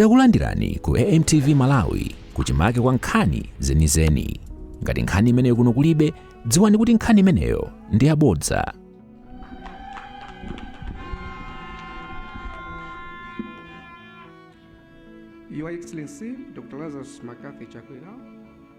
Takulandirani ku AMTV Malawi kuchimake kwa nkhani zenizeni. Ngati nkhani imeneyo kuno kulibe, dziwani kuti nkhani imeneyo ndi yabodza. Your Excellency, Dr. Lazarus McCarthy Chakwera,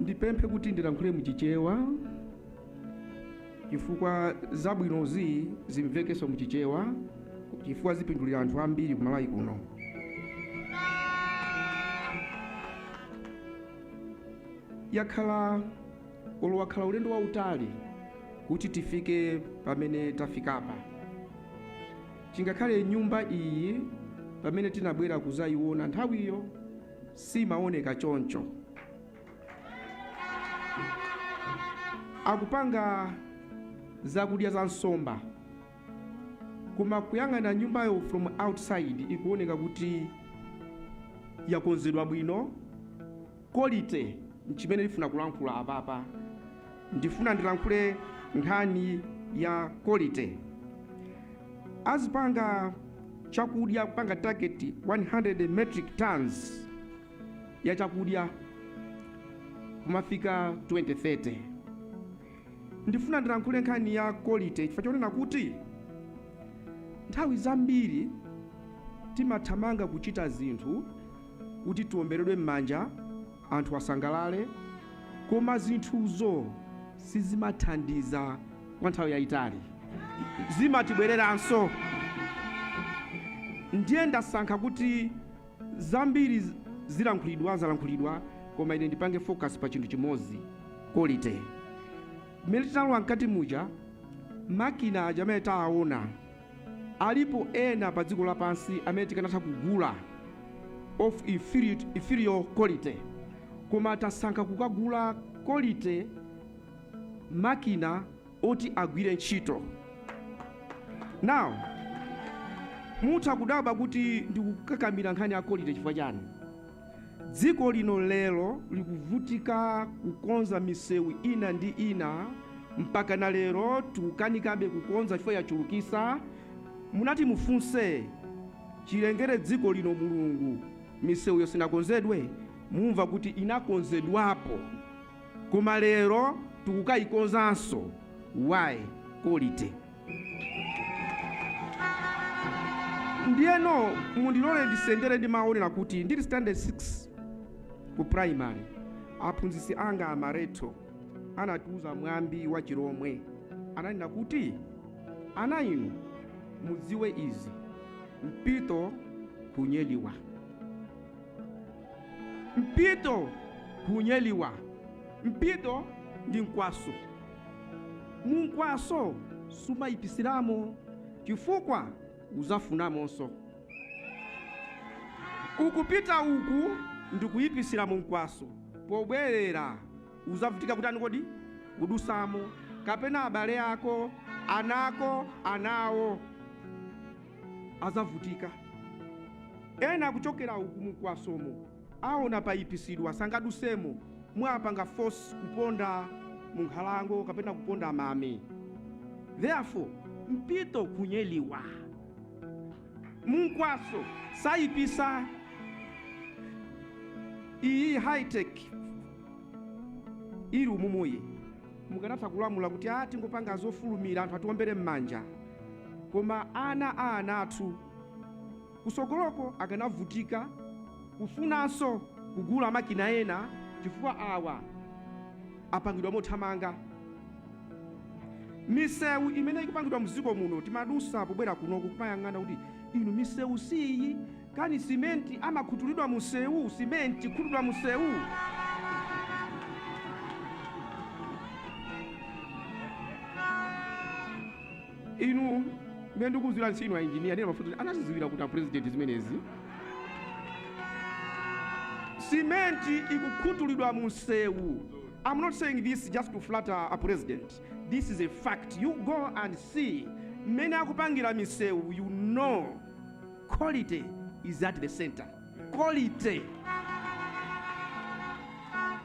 ndipemphe kuti ndilankhule muchichewa chifukwa zabwinozi zimvekenso muchichewa chifukwa zipindulira anthu ambiri ku Malawi kuno yakhala olo wakhala ulendo wautali kuti tifike pamene tafikapa chingakhale nyumba iyi pamene tinabwera kuzayiona nthawiyo siimawoneka choncho. Akupanga zakudya za nsomba, koma kuyang'ana nyumbayo from outside ikuwoneka kuti yakonzedwa bwino, quality nchimene ndifuna kulankhula apapa. Ndifuna ndilankhule nkhani ya quality. Azipanga chakudya kupanga target 100 metric tons ya chakudya kumafika 2030. Ndifuna ndilankhule nkhani ya quality chifukwa chonena kuti nthawi zambiri timathamanga kuchita zinthu kuti tiomberedwe m'manja anthu asangalale, koma zinthuzo sizimathandiza kwa nthawi yayitali, zimatibwereranso. Ndiye ndasankha kuti zambiri zilankhulidwa zalankhulidwa, koma ine ndipange focus pa chinthu chimodzi, quality. Mmene tinalowa mkati muja, makina aja amene taawona Alipo ena pa dziko lapansi amene tikanatha kugula, of inferior, inferior quality, koma tasankha kukagula quality makina oti agwire ntchito. Now, mutha kudabwa kuti ndikukakamira nkhani ya quality chifukwa chani? Dziko lino lero likuvutika kukonza misewu ina ndi ina mpaka na lero tikukanikabe kukonza chifukwa yachulukisa, munati mufunse chilengere dziko lino Mulungu misewuyo sinakonzedwe? Mumva kuti inakonzedwapo koma lero tikukayikonzanso why? Quality. ndiyeno mundilole ndisendere ndi mawu wonena kuti ndili standard 6 ku primary aphunzitsi anga aMaretho anatiuza mwambi wa chilomwe ananena kuti ana inu mudziwe izi mpito kunyeliwa mpito kunyeliwa mpito ndi mkwaso Mumkwaso sumayipisiramo chifukwa uzafunamonso. Ukupita uku ndikuyipisira mu mkwaso pobwerera uzavutika kutani kodi? Kudusamo kapena abale ako, ana ako, ana awo azavutika. Ena akuchokera uku mumkwasomo. Aona paipisidwa sangadusemo mwapanga force kuponda mu nkhalango kapena kuponda mame therefore mpito kunyeliwa munkwaso saipisa iyi high tech ili umumuyi mukanatha kulamula kuti a tingopanga zofulumira anthu atiwombere m'manja koma ana a ana athu Kusogoloko akanavutika kufunanso kugula makina ena chifukwa awa apangidwa mothamanga. Misewu imene ikupangidwa mziko muno timadusa pobwera kunoku kumayang'ana kuti inu misewu siiyi kani simenti amakhutulidwa munsewu simenti kukhutulidwa munsewu. Inu mmene ndikudziwiranso inu ainjiniya a nena mafuta anazidziwira kuti apurezidenti zimenezi. Simenti ikukhutulidwa mu msewu. I'm not saying this just to flatter a president. This is a fact. You go and see mmene akupangira misewu you know quality is at the center. Quality.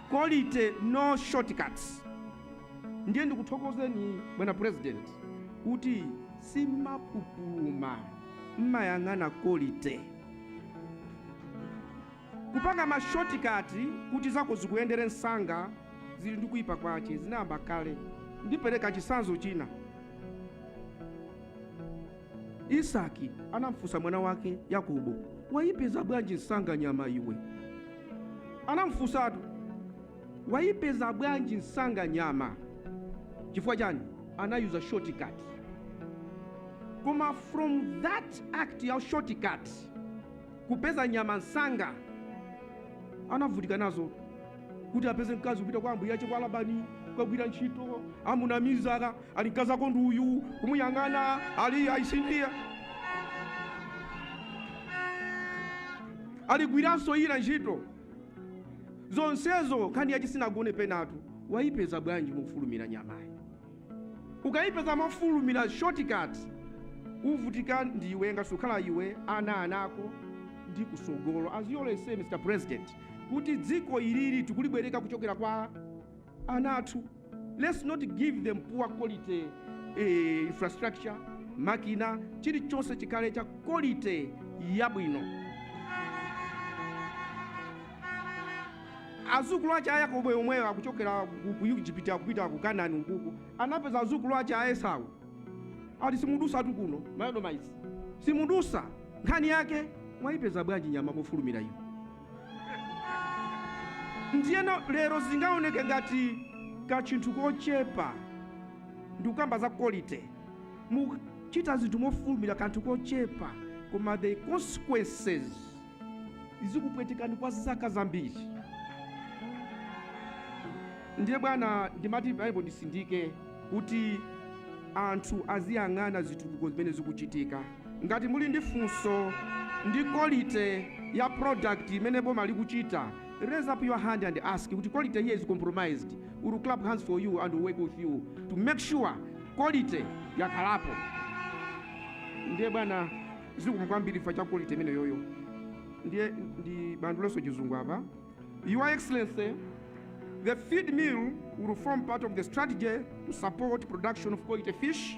Quality no shortcuts. ndiye ndikuthokozeni bwana president kuti simmapupuluma mmayang'ana kolite kupanga mashotikati kuti zako zikuyendere msanga zili ndi kuyipa kwache zinayamba kale ndipereka chisanzo china isaki anamfunsa mwana wake yakobo wayipeza bwanji msanga nyama iwe anamfunsatu Wayipeza bwanji nsanga nyama? Chifukwa chani? Anayuza short cut. Koma from that act ya short cut kupeza nyama nsanga anavutika nazo kuti apeze mkazi kupita kwa ambuye ache kwa Labani kukagwira ntchito amunamiza ali mkazi ako ndi uyu kumuyang'ana ali ayisindiya aligwiranso ina ntchito zonsezo nkhani yake sinagone penatu wayipeza bwanji mofulumira nyamayi ukayipeza mofulumira shortcut uvutika ndi iwe ngati sukhala iwe ana anako ndi kusogolo As you always say mr president kuti dziko ilili tikulibwereka kuchokera kwa ana athu let's not give them poor quality eh, infrastructure makina chilichonse chikhale cha quality yabwino azukulu ace a yakobo yemweyo akuchokera ku- ku ejipiti akupita ku kanani ukuku anapeza azukulu ache a esau ati simudusa tu kuno ma Edomites simudusa nkhani yake mwayipeza bwanji nyama mofulumira iyo ndiyeno lero zingaoneke ngati kachinthu kochepa ndikukamba za quality muchita zinthu mofulumira kanthu kochepa koma the consequences zikupwetekani kwa zaka zambiri ndiye bwana ndimati Bible ndisindike kuti anthu aziyang'ana zitukuko zimene zikuchitika Ngati muli ndi funso ndi kolite ya product imene boma likuchita raise up your hand and ask kuti kolite here is compromised we will clap hands for you and we work with you to make sure kolite yakhalapo ndiye bwana zikomo kwambiri chifukwa cha kolite imeneyoyo ndiye ndibandulenso chizungu apa your excellency the feed mill will form part of the strategy to support production of quality fish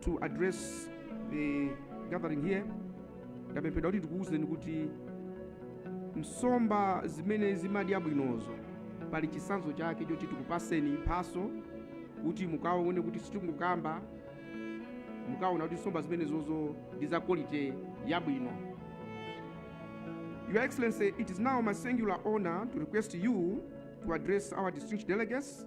to address the gathering here ndapemphedwa kuti ndikuwuzeni kuti nsomba zimene zimadya bwinozo pali chisanzo chake choti tikupaseni mphaso kuti mukaone kuti sitikungokamba mukaona kuti nsomba zimenezozo ndi za quality yabwino your excellency it is now my singular honor to request you to address our distinguished delegates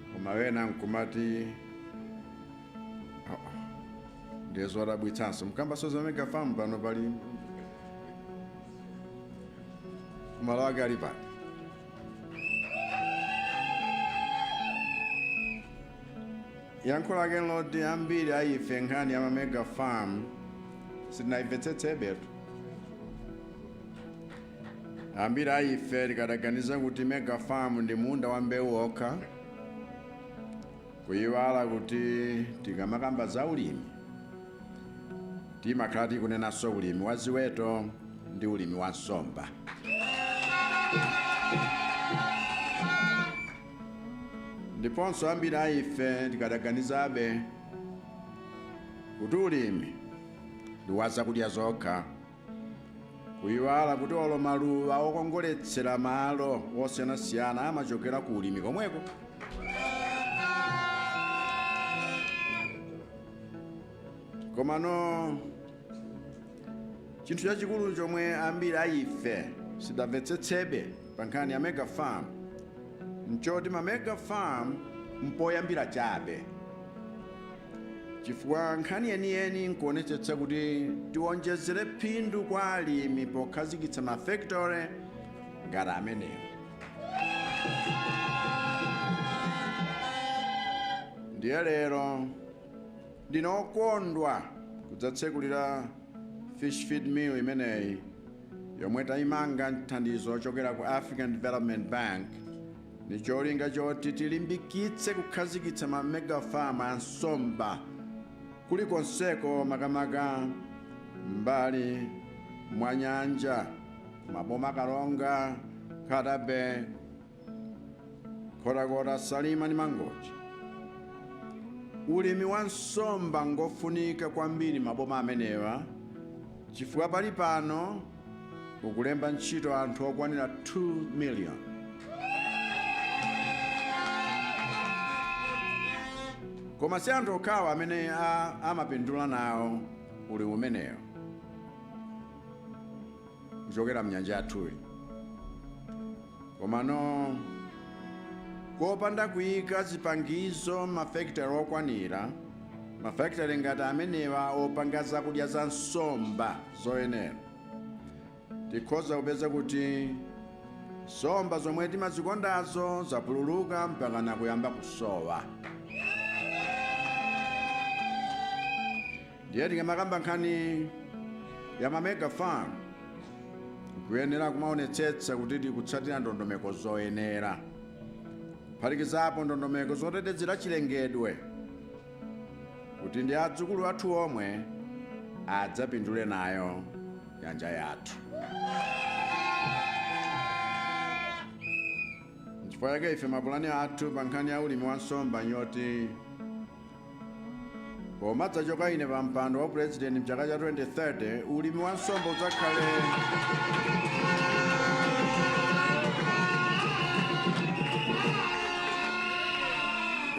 koma ena nkumati "Ah, ah, ndiye zodabwitsanso mukambaso za mega farm pano pali malo ake ali pano yankho lake ndi loti ambiri a ife nkhani ya mamega farm sitinayimvetsetsebetu Ambiri a ife tikanaganiza kuti mega farm ndi munda wa mbewu okha, kuyiwala kuti tikamakamba za ulimi timakhala tikunenanso ulimi wa ziweto ndi ulimi wa nsomba. Ndiponso ambiri a ife tikanaganizabe kuti ulimi ndi wa zakudya zokha. kuyiwala kuti olo maluwa okongoletsera malo osiyanasiyana amachokera ku ulimi komweko komano chinthu chachikulu chomwe ambiri a ife sitidamvetsetsebe pa nkhani ya mega farm nchoti ma mega farm mpoyambira chabe chifukwa nkhani yeniyeni nkuonetsetsa kuti tionjezere phindu kwa alimi pokhazikitsa mafekitore ngati ameneyi ndiye lero ndine okondwa kudzatsekulira fish feed mill imeneyi yomwe tayimanga nthandizo lochokera ku African Development Bank ndi cholinga choti tilimbikitse kukhazikitsa ma mega farm a nsomba kulikonseko makamaka m'mbali mwa nyanja m'maboma a Karonga Nkhata Bay Nkhotakota Salima ndi Mangochi ulimi wa nsomba ngofunika kwambiri m'maboma amenewa chifukwa pali pano ukulemba ntchito anthu okwanira 2 million koma si anthu okhawa amene a- amapindula nawo ulimi umenewo kuchokera mnyanja yathuyi komano kopanda kuyika zipangizo mafekitale okwanira mafekitale ngati amenewa opanga zakudya za nsomba zoyenera. Tikhoza kupeza kuti nsomba zomwe timazikondazo zapululuka mpakana kuyamba kusowa. Ndiye tikamakamba nkhani ya ma mega farm kuyenera kumaonetsetsa kuti tikutsatira ndondomeko zoyenera kuphatikizapo ndondomeko zotetezera chilengedwe kuti ndi adzukulu athu omwe adzapindule nayo nyanja yathu nchifukwa chake ife mapulani athu pa nkhani ya ulimi wa nsomba nyoti pomadzachoka ine pa mpando wa purezidenti mchaka cha 2030 ulimi wa nsomba udzakhale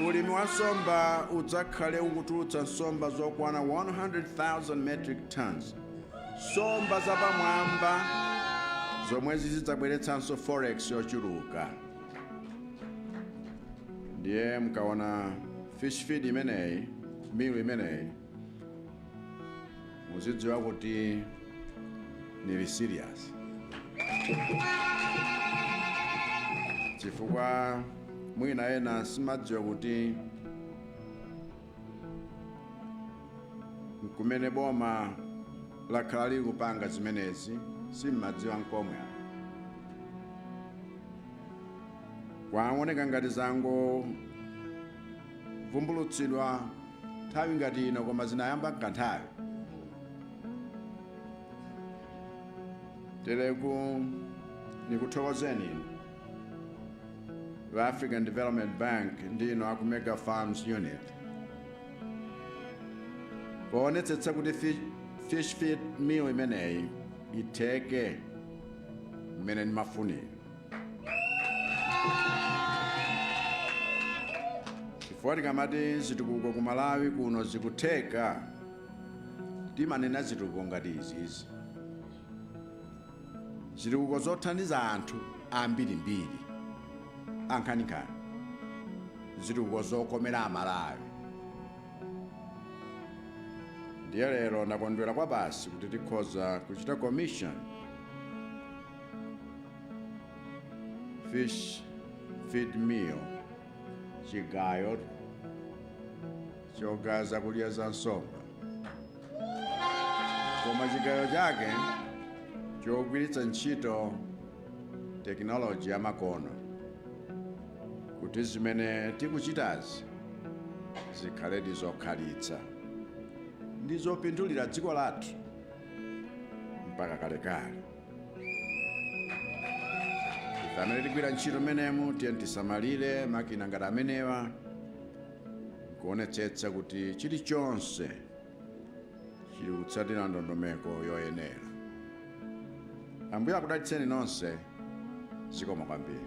ulimi wa nsomba udzakhale ukutulutsa nsomba zokwana 100,000 metric tons nsomba zapamwamba zomwe zizidzabweretsanso forex yochuluka ndiye mkaona fish feed imeneyi mill imeneyi muzidziwa kuti ndili serious chifukwa mwina ena simadziwa kuti nkumene boma lakhala lili kupanga zimenezi simmadziwa nkomwe kwaoneka ngati zango vumbulutsidwa nthawi ngati ino koma zinayamba nkanthawi teleku ndikuthokozeni inu a african development bank ndi inu aku mega farms unit poonetsetsa kuti fi- fish feed mill imeneyi itheke mmene ndimafunira chifukwa tikamati zitukuko ku malawi kuno zikutheka timanena zitukuko ngati izizi zitukuko zothandiza anthu ambirimbiri ankhaninkhani zitukuko zokomera amalawi ndiye lero ndakondwera kwabasi kuti tikhoza kuchita commission fish feed mill chigayo chogaza zakudya za nsomba koma chigayo chake chogwiritsa ntchito tekinoloji yamakono kuti zimene tikuchitazi zikhaledi zokhalitsa ndi zopindulira dziko lathu mpaka kalekale ife amene tigwira ntchito mmenemu tiyeni tisamalire makina ngati amenewa kuonetsetsa kuti chilichonse chili kutsatira ndondomeko yoyenera ambuye akudalitseni nonse zikomo kwambiri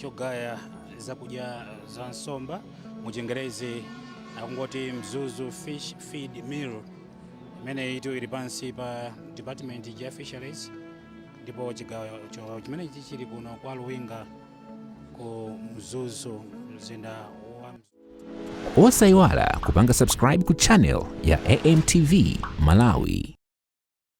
chogaya zakudya za nsomba mu chingerezi akungoti mzuzu fish feed mill imene itu ili pansi pa department ya fisheries ndipo chigayo cho- chimene ichi chili kuno kwa luwinga ku mzuzu mzinda wa Mzuzu. osayiwala kupanga subscribe ku channel ya amtv malawi